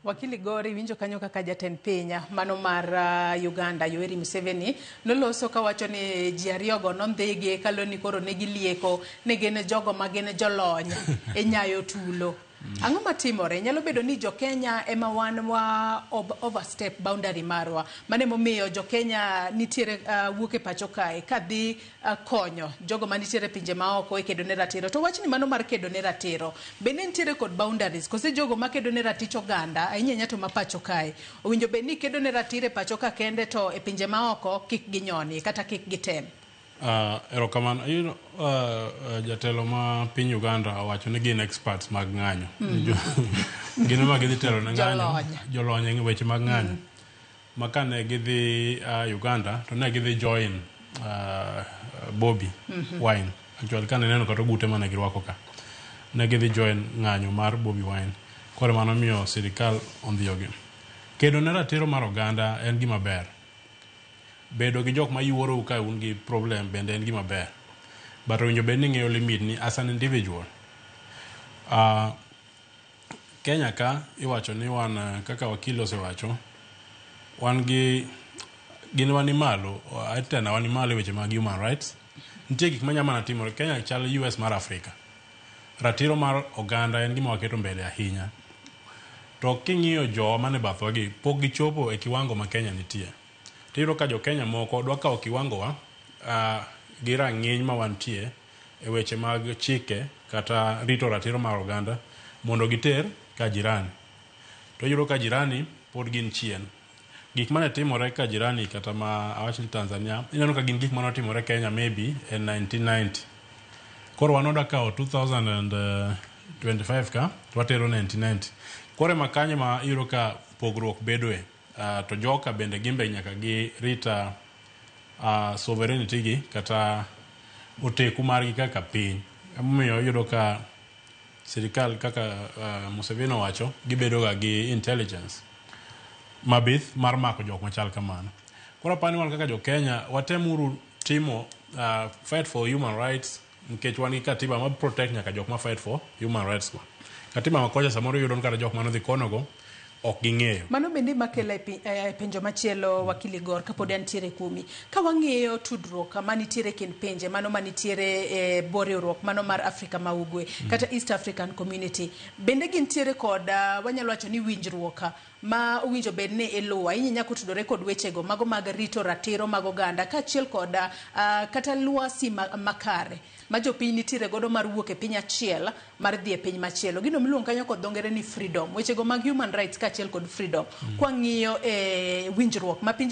Wakili Gore, iwinjo kanyo kaka jatend piny mano mar uh, Uganda Yoweri Museveni noloso kawacho ni ji ariyogo nondhigi kalo ni koro ne gilieko ni gin jogo ma gin jolony e nyayo tulo. Ang'o matimore? Nyalo bedo ni jo-Kenya ema wan wa ob- overstep boundary marwa. Mano emomiyo jo-Kenya nitiere uh, wuok e pacho kae kadhi konyo jogo manitiere pinje maoko e kedo ne ratiro to wachni mano mar kedo ne ratiro bende nitiere kod boundaries kose jogo makedo ne ratich oganda ahinya ahinya to mapacho kae owinjo bed ni kedo ne ratiro e pacho ka kende to e pinje maoko kik ginyonie kata kik gitem Uh, erokamano you know, uh, uh, jatelo ma piny uganda owacho ni gin experts mag ng'anyo mm. gin ema gidhi telo ne ng'anyo Jolony. jolony e weche mag ng'anyo mm. ma kane gidhi uh, Uganda to ne gidhi join uh, Bobby mhm. Wine actually kane neno kata ogute mane girwako ka ne gidhi join ng'anyo mar Bobby Wine koro mano miyo sirikal ondhiyogi kedo ne ratiro mar oganda en gima ber bedo gi jok ma yuorou ka un gi problem bende en gima ber but owinjo bed ni ng'eyo limit ni as an individual uh, Kenya ka iwacho ni wan kaka wakil osewacho, wan gi gin wa ni malo tena wan malo e weche mag human rights. Nitie gik manya mana timore. Kenya chal US mar Afrika. Ratiro mar oganda en gima waketo mbele ahinya. To king'iyo jowa mane bathwa gi, pok gichopo e kiwango ma Kenya nitie. Tiyudo ka jo Kenya moko dwa kawo kiwango wa gi rang'iny ma wantie. e weche mag chike kata rito ratiro mar oganda mondo giter ka jirani. To iyudo ka jirani pod gin chien. Gik mane timore ka jirani kata ma awach ni Tanzania, ineno ka gin gik mane otimore Kenya maybe e 1990. Koro wan oda kawo 2025 ka to watero 1990. Koro ema kanyo ema iyudo ka pogruok bedoe. Uh, to joka bende gimbe nyaka gi rita uh, sovereignty gi kata oteku margi kaka piny emomiyo iyudo ka sirikal kaka uh, Museveni owacho gibedoga gi intelligence mabith mar mako jok machal kamano koro apani wan kaka jo Kenya watemuru timo uh, fight for human rights Nikech wan gi katiba ma protect nyaka jok ma fight for human rights go. Katiba ma kocha samoro iyudo ni kata jok mane odhi kono go ok ging'eyo. Mano bende ema kela e eh, e penjo machielo wakili Gor kapod antiere kuomi. Ka wang'iyo tudruok manitiere e kind pinje mano manitiere e bwo riwruok mano mar Afrika ma Ugwe mm. kata East African Community bende gintiere kod ah, wanyalo wacho ni winjruok ma owinjo bed ni iluwo ahinya nyaka otudore kod wechego mago mag rito ratiro mag oganda kaachiel kod uh, kata lwasi ma, makare ma jopiny nitiere godo mar wuok e piny achiel mar dhi e piny machielo gino miluongo kanyo kod dho ngere ni freedom wechego mag human rights kaachiel kod freedom mm. kwang'iyo e eh, winjruok ma pinje